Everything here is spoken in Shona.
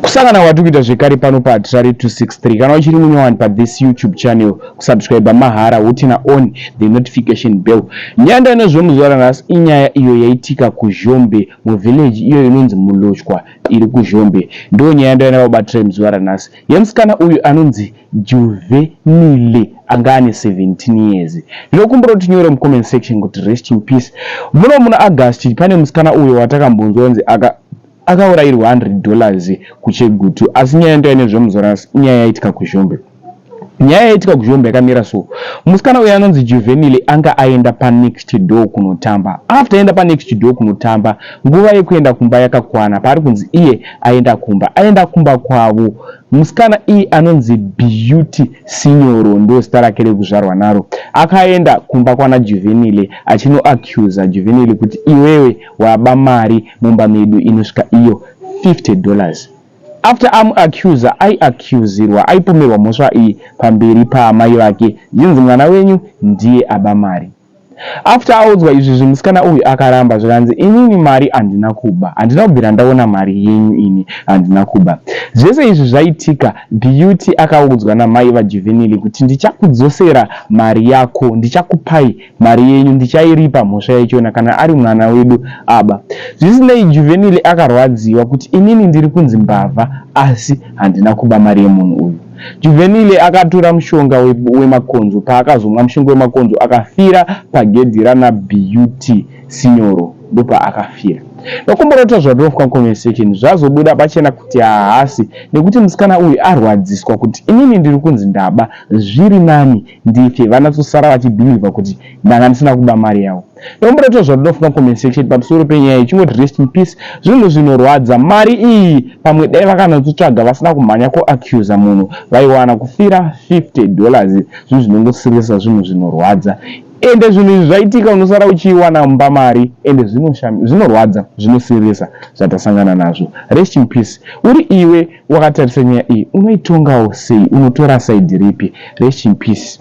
kusangana kwatiri kuita zvekare pano patrari 263 kana uchiri munyowani pathis youtube channel kusubscribe mahara hutina on the notification bell nyaya ndainozvo muzuva ranhasi inyaya iyo yaitika kuzhombe muvillage iyo inonzi mulochwa iri kuzhombe ndo nyaya ndainava kubatrari muzuva ranhasi yemusikana uyu anonzi juvenile anga ane 17 years ndinokumbira kuti nyore mucomment section kuti rest in peace muno muna august pane musikana uyo watakambonzwa nzi aka Akaurayirwa 100 dollars kuChegutu asi nyaya yandauya nezve Muzorasi inyaya yaitika kuZhombe. Nyaya yaitika kuZhombe yakamira so, musikana uyu anonzi Juvenile anga aenda panext door kunotamba. After aenda panext door kunotamba, nguva yekuenda kumba yakakwana paari kunzi iye aenda kumba. Aenda kumba kwavo, musikana iyi anonzi Beauty Sinyoro, ndozita rake rekuzvarwa naro, akaenda kumba kwana Juvenile achinoaccuser Juvenile kuti iwewe Waba mari mumba medu inosvika iyo 50 dollars. After amu accuser ayi accusirwa ayipomerwa mhosva iyi pamberi paamai vake zvichinzi mwana wenyu ndiye aba mari. After audzwa izvizvi musikana uyu akaramba zvikanzi inini mari handina kuba handina kubvira ndaona mari yenyu ini handina kuba. Zvese izvi zvaitika Beauty akaudzwa namai vaJuvenile kuti ndichakudzosera mari yako ndichakupai Mari yenyu ndichairipa mhosva yaichona kana ari mwana wedu aba. Zvisinei Juvenile akarwadziwa kuti inini ndiri kunzi mbavha asi handina kuba mari yemunhu uyu. Juvenile akatura mushonga wemakonzo paakazomwa mushonga wemakonzo akafira pagedhi rana BUT Sinyoro ndopaakafira. Nokumborota zvaDofwa Conversation zvazobuda pachena kuti haasi nekuti musikana uyu arwadziswa kuti inini ndiri kunzi ndaba zviri nani ndike vanatsosara vachibhilivha kuti ndanga ndisina kuba mari yavo ndomboda kuita zvadodakufunga compensation pamusoro penyaya iyi chingoti rest in peace zvinhu zvinorwadza mari iyi pamwe dai vakanatsotsvaga vasina kumhanya kuaccuser munhu vaiwana kufira 50 dollars zvinhu zvinongosiririsa zvinhu zvinorwadza ende zvinhu izvi zvaitika unosara uchiiwana mumba mari ende zvinorwadza zvinosiririsa zvatasangana nazvo rest in peace uri iwe Wakatarisa nyaya iyi unoitongawo sei unotora side ripi. Rest in peace.